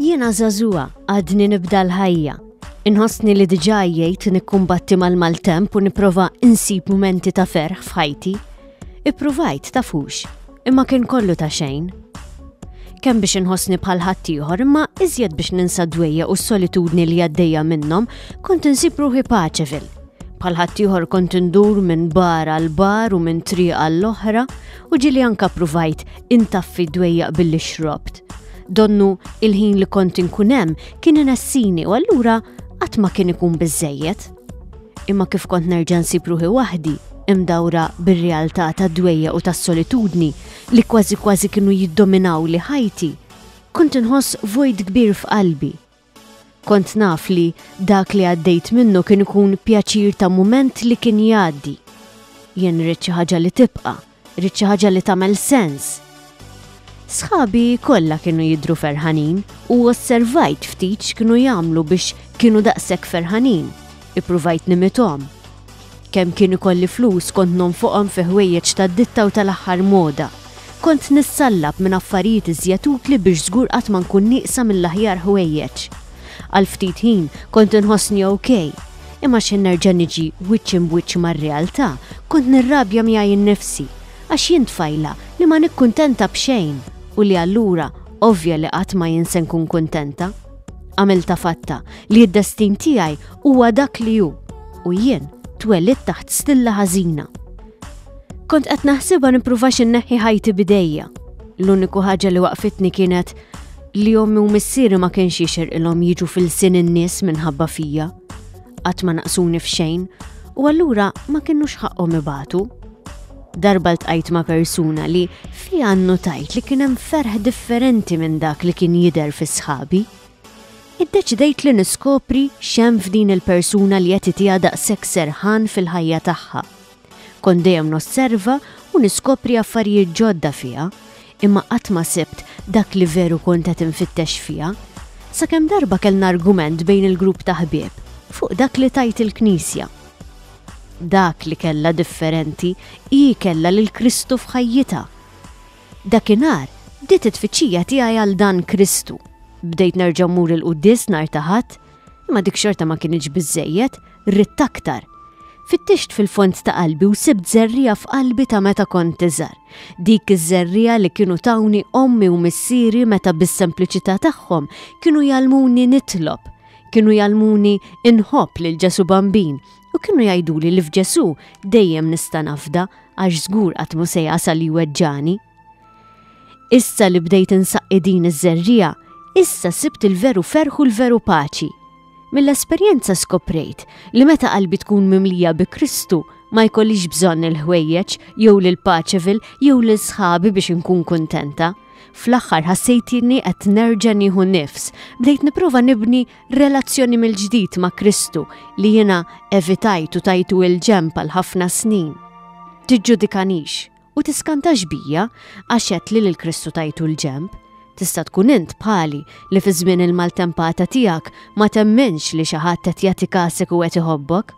Jiena żagħżugħa għadni nibda l-ħajja. Inħossni li diġà jgħid nikkumbatti mal-maltemp u nipprova insib mumenti ta' ferħ f'ħajti. Ippruvajt tafux, imma kien kollu ta' xejn. Kemm biex inħossni bħal ħaddieħor imma iżjed biex ninsa dwejja u s-solitudni li għaddejja minnhom kont insib ruħi Paċevil, Bħal ħaddieħor kont indur minn bar għal bar u minn triq għall oħra u ġili anka pruvajt intaffi dwejjaq billi xrobt. Donnu il-ħin li kont inkun hemm kien inessini u allura qatt ma kien ikun biżejjed. Imma kif kont nerġa' nsib ruħi waħdi, imdawra bir-realtà tad-dwejja u tas-solitudni li kważi kważi kienu jiddominaw li ħajti, kont inħoss vojt kbir f'qalbi Kont naf li dak li għaddejt minnu kien ikun pjaċir ta' mument li kien jgħaddi. Jien rrid xi ħaġa li tibqa', rrid xi ħaġa li tagħmel sens. Sħabi kollha kienu jidru ferħanin u osservajt ftit x'kienu jagħmlu biex kienu daqshekk ferħanin. Ippruvajt nimithom. Kemm kien ikolli flus kont nonfoqhom fi ħwejjeġ tad-ditta u tal-aħħar moda. Kont nissallab minn affarijiet iżjed utli biex żgur qatt ma nkun nieqsa mill-aħjar ħwejjeġ. Għal ftit ħin kont inħossni ok, imma x'ħin nerġa' niġi wiċċ imb'wiċċ mar-realtà kont nirrabja miegħi nnifsi għax jien tfajla li ma nikkuntenta b'xejn u li allura ovvja li qatt ma jien se nkun kuntenta. Għamilta fatta li d-destin tiegħi huwa dak li hu u jien twelid taħt stilla ħażina. Kont qed naħsibha nippruva xinneħħi ħajti bidejja. L-uniku ħaġa li waqfitni kienet li ommi u missieri ma kienx jixir ilhom jiġu fil-sin in-nies minħabba fija. Qatt ma naqsuni f'xejn u allura ma kienux ħaqqhom ibatu. Darba ltqajt ma' persuna li fiha nnutajt li kien hemm ferħ differenti minn dak li kien jidher fi sħabi. Iddeċidejt li niskopri x'hemm f'din il-persuna li qed itiha daqshekk serħan fil-ħajja tagħha. Kont dejjem nosserva u niskopri affarijiet ġodda fiha, imma qatt ma sibt dak li veru kont qed infittex fiha. Sakemm darba kellna argument bejn il-grupp ta' ħbieb fuq dak li tgħid il-Knisja. Dak li kellha differenti hi kellha lil Kristu f'ħajjitha. Dakinhar bdiet it-tfittxija tiegħi għal dan Kristu. Bdejt nerġa' mmur il-quddies nhar ta' Ħadd, imma dik xorta ma kinitx biżżejjed, ridt aktar. Fittixt fil-fond ta' qalbi u sibt żerriegħa f'qalbi ta' meta kont iżgħar. Dik iż-żerriegħa li kienu tawni ommi u missieri meta bis-sempliċità tagħhom kienu jgħallmuni nitlob, Kienu jgħallmuni inħobb lil Ġesù Bambin u kienu jgħiduli li f'Ġesù dejjem nista' nafda għax żgur qatt mhu se jasal jweġġani. Issa li bdejt insaqqi din iż-żerriegħa, issa sibt il-veru ferħ u l-veru paċi. Mill-esperjenza skoprejt li meta qalbi tkun mimlija bi Kristu ma jkollix bżonn il-ħwejjeġ jew lil Paċevil jew lil sħabi biex inkun kuntenta. Fl-aħħar ħassejtni qed nerġa' nieħu nifs. Bdejt nipprova nibni relazzjoni mill-ġdid ma' Kristu li jiena evitajt u tajtu il-ġenb għal ħafna snin. Tiġġudikanix u tiskantax bija għax għedt li lil Kristu tajtu l-ġenb. Tista' tkun int bħali li fi żmien il-maltempata tiegħek ma temminx li xi ħadd qed jagħti kasek u qed iħobbok.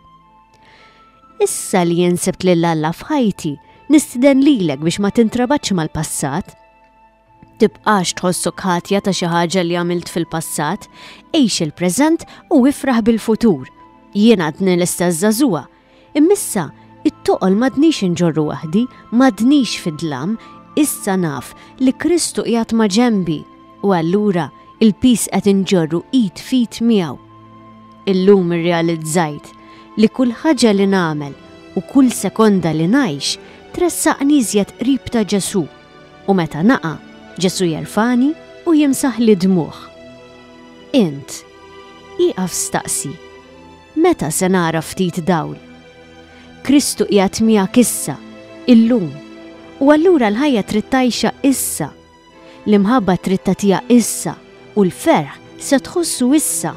Issa li jinsibt lil Alla f'ħajti, nistiden lilek biex ma tintrabaċ mal-passat. Tibqax tħossu ħatja ta' xi ħaġa li għamilt fil-passat, għix il-preżent u ifraħ bil-futur. Jien għadni l-istess żagħżugħa. Immissa, it-toqol madnix inġorru waħdi, madnix fid-dlam, issa naf li Kristu qiegħed ma' ġembi u allura il-pis qed inġorru id fit miegħu. Illum irrealizzajt li kull ħaġa li nagħmel u kull sekonda li ngħix tressaqni iżjed qrib ta' Ġesù u meta naqa' Ġesù jerfagħni u jimsaħli dmugħ. Int, ieqaf staqsi, meta se nara ftit dawl? Kristu qiegħed miegħek issa, illum, u allura l-ħajja trid tgħixha issa L-imħabba trid tagħtiha issa u l-ferħ se tħossu issa.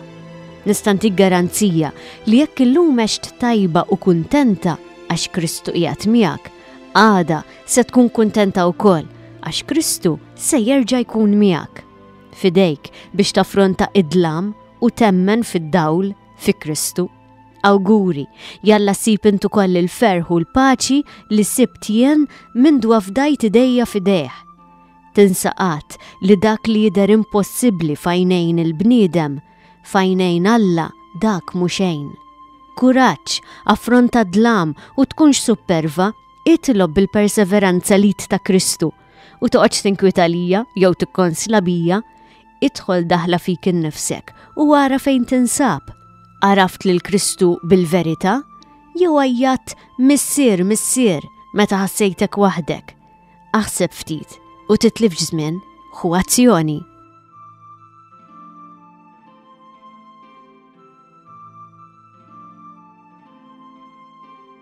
Nista' ntik garanzija li jekk illum għext tajba u kuntenta għax Kristu qiegħed miegħek, għada se tkun kuntenta wkoll għax Kristu se jerġa' jkun miegħek. F'idejk biex taffronta id-dlam u temmen fid-dawl fi Kristu. Awguri, jalla sib intu koll il-ferħ u l-paċi li sibt jien minn dwa fdajt idejja fidejh. Tinsaqat li dak li jider impossibli fajnejn il-bniedem, fajnejn Alla dak muxejn. Kuraċ, affronta dlam u tkunx supperva, itlob bil-perseveranza lid ta' Kristu, u toqgħodx tinkwita lija jew tikkonsla bija, idħol daħla fik innifsek u ara fejn tinsab. Araft lil Kristu bil-verità jew għajjat missier missier meta ħassejtek waħdek. Aħseb ftit u titlif żmien hu azzjoni.